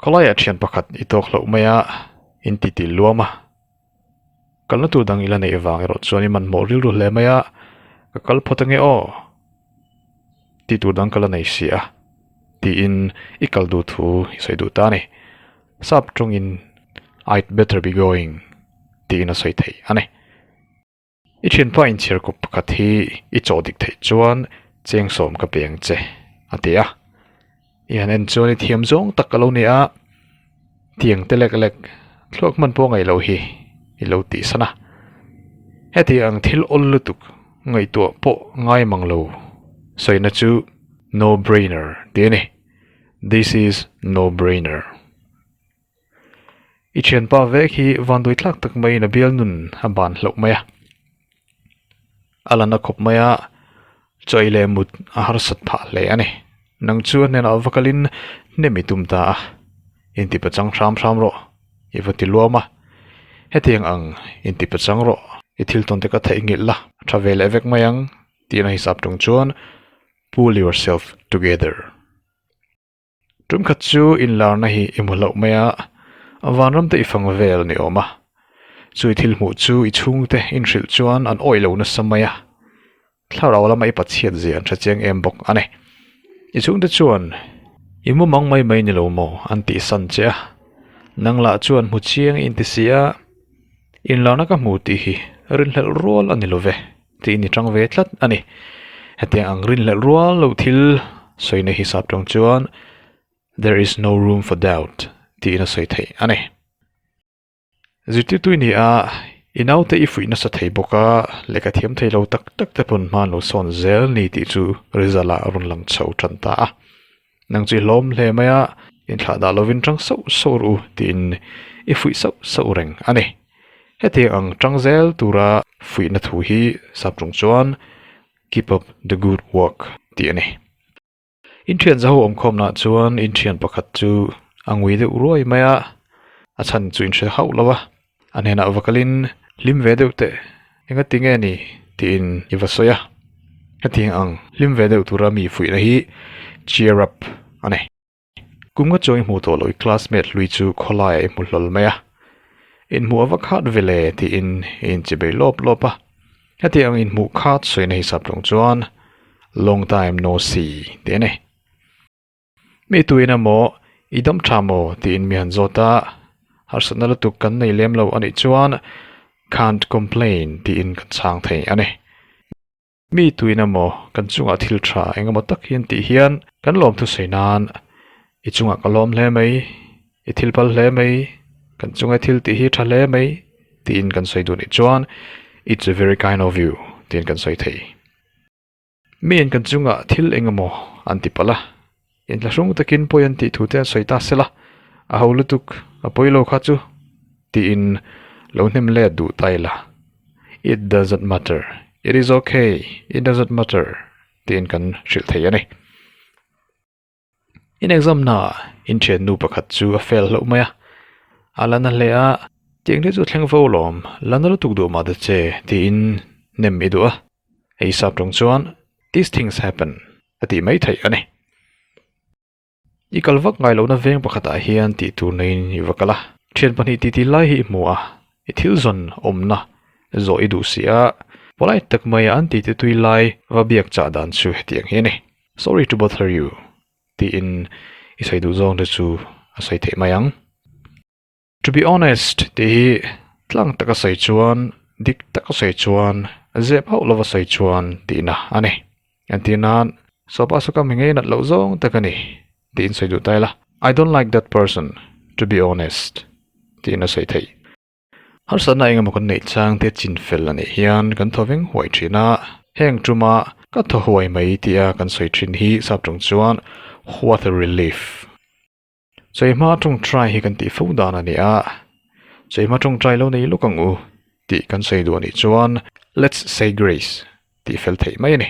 Khawlaia thian pakhat i tawk hlauh maia intitîl luam a, Kalnatu dang i la neih avang erawh chuan i manmawh rilru hle mai a, ka kal phawt ange aw tih tur dang ka la nei si a tiin i kal duh thu i sawi duh ta a ni. Sap tawngin I'd better be going tiin a sawi theih a ni. I thianpa inchhiar kawp pakhat hi i chaw dik theih chuan cheng sawm ka peng che a ti a. I han en chuan i thiam zawng tak ka lo ni a, tiang te lek lek thluak hman pawh a ngaih loh hi i lo tih san a. Heti ang thil awl lutuk ngaihtuah pawh ngai mang lo sawina chu no brainer ti a ni. This is no brainer. I thianpa vek hi vangdui thlak tak maiin a bial nun a ban hlauh mai a. A la na khawp mai a, chawi leh mut a harsat phah hle a ni. Nang chu a hnenah va kalin, Hnem i tum ta a, in tipachang hram hram rawh, i va ti luam a, hetiang ang in tipachang rawh, i thil tawnte ka theih nghilh la, tha ve leh vek mai ang, tihna hisap ṭung chuan pull yourself together. Ṭumkhat chu inlarna hi i hmu hlauh mai a, a vanramte i fang vel ni awm a, chu i thil hmuh chu i chhungte in hrilh chuan an awih lo nasa mai a, thlarau lama i pachiat zia an ṭha chiang em bawk a ni. I chhungte chuan i hmu mang mai mai ni lo maw an tih san che a, nang lah chuan hmu chiang i inti si a, inlarna ka hmu tih hi rinhlelh rual a ni lo ve. tih ni chang ve tlat a ni. Hetiang ang rinhlelh rual lo thil sawi na hi sap tawng chuan There is no room for doubt tiin a sawi theih a ni. Zirtirtui nih a i naute i fuih nasa thei bawk a, lehkha thiam thei lo tak tak te pawn hmaan lo sawn zel ni tih chu result ah a rawn lang chho tan ta a. Nang chu i hlawm hle mai a, inthlah dah lovin ṭang sauh sauh ru tiin i fuih sauh sauh reng a ni. Hetiang ang ṭang zel tura fuihna thu hi sap ṭung chuan Keep up the good work tih a ni. Inthian zaho awmkhawmnah chuan inthian pakhat chu a ngui deuh ruai mai a, a chhan chu in hre hauh lo a. A hnenah va kalin, Hlim ve deuh teh, enga ti nge ni? tiin i va sawi a. Hetiang ang hlim ve deuh tura mi fuihna hi cheer up a ni. Kumnga chaw i hmuh tawh loh i classmate hlui chu khawlaiah i hmu hlawl mai a. In hmuh a va khat vele tiin i inchi bei lawp lawp a. Hetiang ang in hmuh khat sawina hisap tawng chuan long time no see tih a ni. Mi tuin a maw, i dam tha maw tiin mi han zawt a, harsatna lutuk kan nei lem lo a nih chuan can't complain tiin kan chhang thei a ni. Mi tuin a maw, kan chungah thil tha eng emaw tak hi an tih hian kan lawm thusawi nan, i chungah ka lawm hle mai, i thil pal hle mai, kan chunge thil tih hi tha hle mai tiin kan sawi duh nih chuan it's very kind of you tiin kan sawi thei. Miin kan chungah thil eng emaw an ti palh a, intla hrung takin pawi an tih thu te an sawi ta sela, a ho lutuk a pawi lo kha chu, tiin lo hnem let duh ta ila, It doesn't matter, It is ok, It doesn't matter, tiin kan hrilh thei a ni. In exam hnaah in thiannu pakhat chu a fail hlauh mai a, a la na hle a, tiang te chu a thleng fo alawm, la na lutuk duh mah ta che tiin nem i duh a, hei sap tawng chuan These things happen a tih mai theih a ni. I kal vak ngai lohna veng pakhatah hian tih tur neiin i va kal a, thian pahnih titi lai hi i hmu a, i thil zawn awmna zawh i duh si a, polite tak maia an titutui lai va biak chah dan chu hetiang hi a ni. Sorry to bother you, tiin i sawi duh zawng te chu a sawi theih mai ang. To be honest tih hi tlang taka sawi chuan, dik taka sawi chuan, zep hauh lova sawi chuan tihna a ni. Entir nan, Sawpa sawkam hi ngei nat loh zawng tak a ni, tiin sawi duh ta ila. I don't like that person, to be honest, tiin a sawi theih. Harsatna engemaw kan neih chang tia chin fel a nih hian kan thaw veng huai thin a, heng tuma ka thaw huai mai tia kan sawi thin hi sap ṭawng chuan what a relief. Chawihma ṭawng ṭai hi kan tih fo dan a nia, chawihma ṭawng ṭai lo nei lawk ang u tih kan sawi duh a nih chuan let's say grace tih fel theih mai a ni.